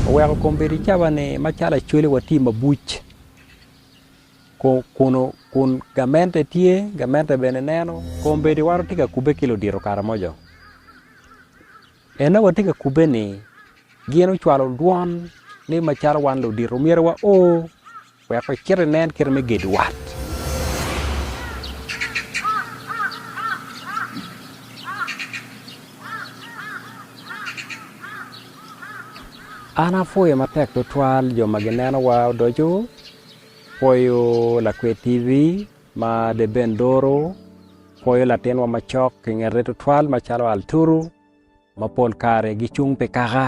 Oweko kom bedo i cawa-ni macalo Acholi watye mabuc kun gamente tye gamente bene neno kom bedo iwa watye ka kubbe ki ludito kare mojo. Eno watye ka kubbe-ni gin ocwalo dwon ni macalo wan ludito myero wao. Wek wacit inen kite me gedo wat. An apwoyo matek tutwal jo ma ginenowa odoco, pwoyo lakwed TV ma De Ben Doro, pwoyo latinwa macok i ngete tutwal macalo Alturu. ma pol kare gicung pi kaka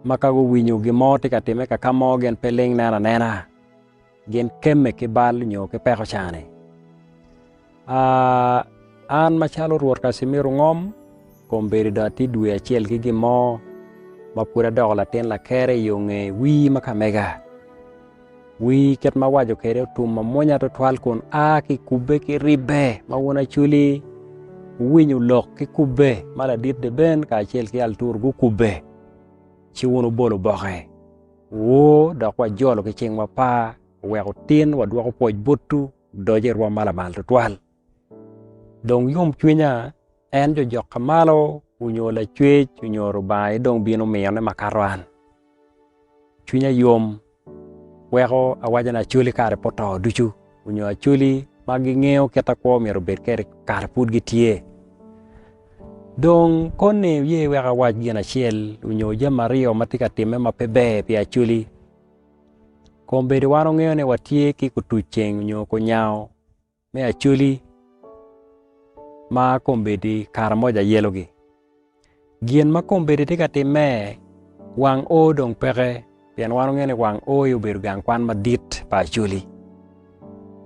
ma ka guwinyo gin mo tye ka timme kaka mo gin pe ling neno anena, gin kemme ki bal nyo ki peko cani. An macalo Rwot Casimiro ngom kombeddi dong atye dwe acel ki gin mo ma pud adoko latin lakere i yo nge wii ma kamega. Wi kit ma awaco kwede otum mamwonya tutwal kun a ki kubbe ki ribbe ma wun acoli wuwinyo lok ki kubbe ma ladit Deben kacel ki Altur gukubbe, ci wun wubolo boke. Wu, dok wajolo ki cingwa par, wek otin wadwoko pwoc botwu, odoc i rwom ma lamal tutwal. Dong yomcwinya en jojoka malo onyo lacwec onyo Lubanga aye dong bino miyone makato an. Cwinya yom weko awaco ni Acholi kare pe oto ducu onyo Acholi ma gingeyo kit akwo myero obed kwede kare pud gitye. Dong koni iye wek awac gin acel onyo jami aryo ma tye ka timme ma pe ber pi Acholi. Kombeddi wan wungeyo ni watye ki kutuc ceng onyo kunyango. me Acholi ma kombeddi Karamoja ayelogi. Gin ma kombeddi tye ka timme, wang O dong peke pien wan wungeyo ni wang O aye obedo gang kwan madit pa Acholi.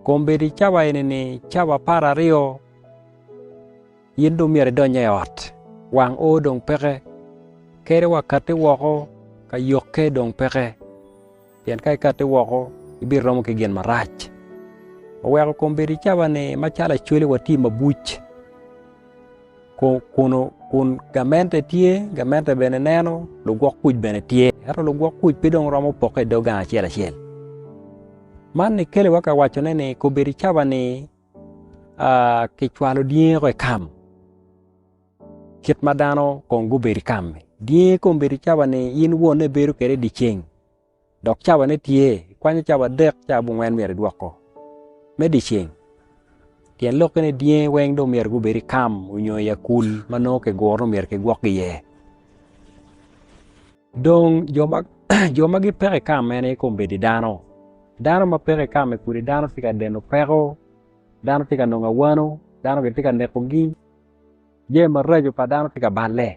Kombeddi cawa eni-ni cawa apar aryo in dong myero idonye i ot, wang O dong peke, kadi wa katti woko ka yokke dong peke. Pien ka ikate woko, ibiromo ki gin marac. Oweko kom bedo i cawa-ni macalo acwele wa tye mabuc, kun gamente tye, gamente bene neno, lugwok kuc bene tye, ento lugwok kuc pe dong romo pokke i dog gang acel acel. Man ni keliwa ka wacone ni kobedo i cawa-ni kicwalo dyangi woko i kam. Kit ma dano kong gubedo i kam-mi, dyangi kong bedo cawa-ni in wonne ibedo kwede i dye ceng, dok cawane tye, ikwanyo cawa adek, cawa abongwen myero idwoko me dye ceng. Tyen lokke ni dyangi weng dong myero gubed i kam nyo i akul ma nongo kiguro ni myero kigwokki iye. Dong jo ma gipeko i kam mene kong bedo i dano. Dano ma peko i kam-mi kudi dano tye ka deno peko, dano tye ka nongo awano, dano gitye ka nekogi. Jami maraco pa dano tye ka balle.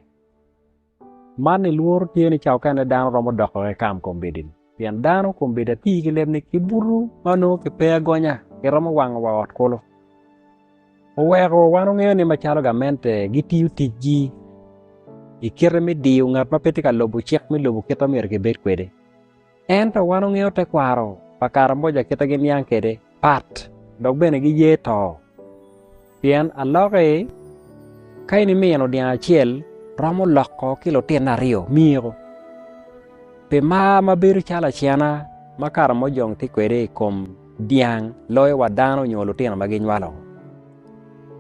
Man ni lworo tye ni ca okene dano romo doko ki kam kombeddi-ni pien dano kombeddi atir ki leb ni kibuto ma onongo kipe agonya kiromo wango wa ot kulu. Oweko wan ongeyo ni macalo gamente gitiyo ticgi i kite me diyo ngat ma pe tye ka lubo cik me lobo kit ma myero kibed kwede. Ento wan ongeyo tekwaro pa Karamoja kite giniang kede pat dok bene giye to. Pien aloki ka in imino dyang acel romo loko ki lutino aryo miko. Pi mar ma bedo calo acena ma Karamojong tye kwede i kom dyang loyo wa dano nyo lutino ma ginywalo.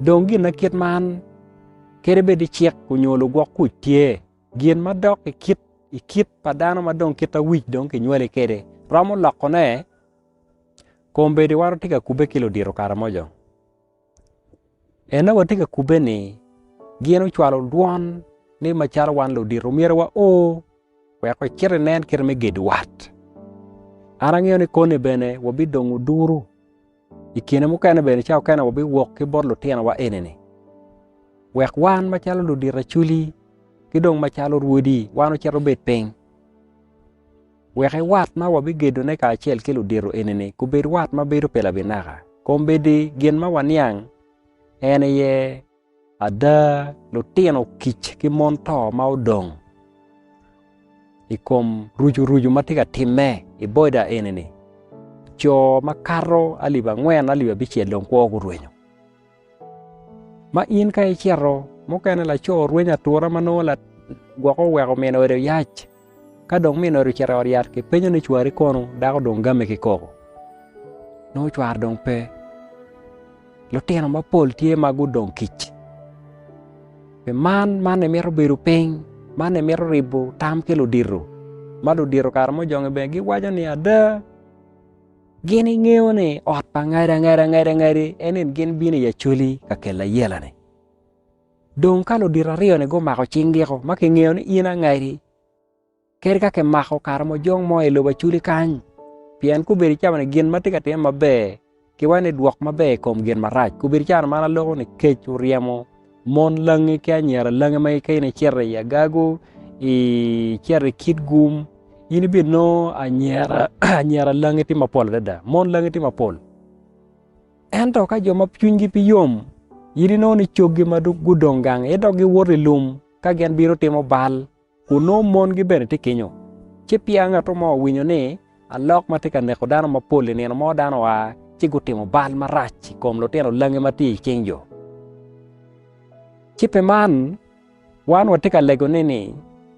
Dong gin ma kit man kede bedi cik onyo lugwok kuc tye. Gin ma dok i kit i kit pa dano ma dong kit awic dong kinywali kede romo lokone kombedi waro tye ka kube ki ludito kara mojo ene wa tye ka kube ni gin ocwalo dwon ni macalo wan ludito myero wa o wek wa cit inen kite me gedo wat an angeyo ni koni bene wa bidongo duru I kine mukene bene ca okene wabiwok ki bot lutinowa eni-ni wek wan macalo ludit acwli ki dong macalo rwodi wan ocit obed piny wek wat ma wabigedone kacel ki ludito eni-ni gubed wat ma bedo pi labinaka kun bedi gin ma waniang en aye Ada, lutino kic ki mon to ma odong i kom rucurucu ma tye ka timme i boda eni-ni, co makato alip angwen, alip abicel dong kwo gurwenyo. Ma in ka icito, mukene laco orwenyo atura ma nongo gwok oweko mine ode oyac. Ka dong min ori ocito i ot yat, kipenyo ni, 'Cwari kono? Dako dong game ki koko. Nongo cware dong pe. Lutino mapol tye ma gudong kic. Pi man, man emito bedo piny, man emito ribo tam ki ludito, ma ludito kare mo jonge bene giwaco ni, 'Ada, gin ingeyo ni ot pa ngada ngada ngadi en ni gin bino i Acholi ka kela ayela-ni? Dong ka ludito aryo-ni gumako cing giko ma kingeyo ni in angadi, kadi ka kimako kare mojong mo i lobo aculi kany, pien gubedo icamo ni gin ma tye ka timme maber ki wene dwok maber i kom gin marac. Gubedo icano man aloko ni kec oryemo mon langi ki anyira langi ma ka in icito i agagu, icito i kit gum, in ibinongo anyira langi tye mapol adada, mon langi tye mapol. Ento ka jo ma cwinygi pe yom gin inongo ni coggi ma gudong gang aye dok giwoto i lum ka gin bino timo bal, kun nongo mongi bene tye kenyo. Ci peya ngatu mo owinyo ni alok ma tye ka neko dano mapol i nino mo dano oa ci gutimo bal marac i kom lutino langi ma tye i cing jo. Ci pi man, wan watye ka lego ni ni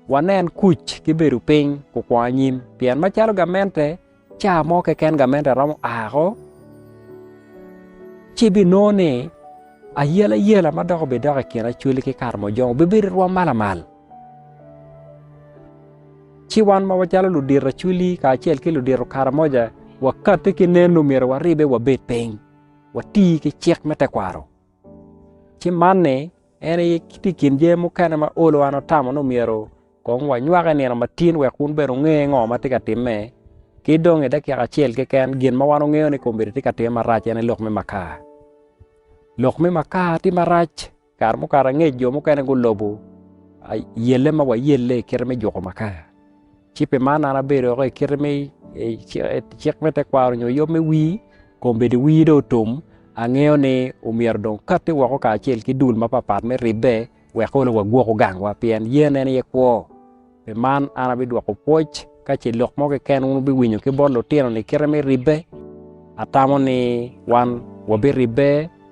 wanen kuc ki bedo piny kukwongo anyim, pien macalo gamente, Ca mo keken gamente romo ako, ci ibinongo ni ayelayela ma dok obidok i kin acwali ki Karmojong bibedo i rwom ma lamal. Ci wan ma wacalo ludito acwali kacel ki ludito Karamoja wakati ki nen-nu myero waribbe wabed piny, wati ki cik me tekwaro. ci man-ni en aye tye i kin jami mukene ma olo an atamo ni myero kong wanywak i nino matin wek wun bene wunge ngo ma tye ka timme ki dong i dakika acel keken gin ma wan wangeyo ni kombeddi tye ka timme marac en aye lok me makar, lok me makar tye marac kare mukato angec jo mukene gulobo yelle ma wayelle i kite me juko makar. Ci pi man an abedo woko i kite me cik me tekwaro nyo yom me wir, kong bed wir dong otum, angeyo ni omyero dong okatti woko kacel ki dul mapapat me ribbe wek onongo wagwoko gangwa pien yen en aye kwo. Pi man an abidwoko pwoc ka ce lok mo keken wun wubiwinyo ki bot lutino-ni kite me ribbe, atamo ni wan wabiribbe.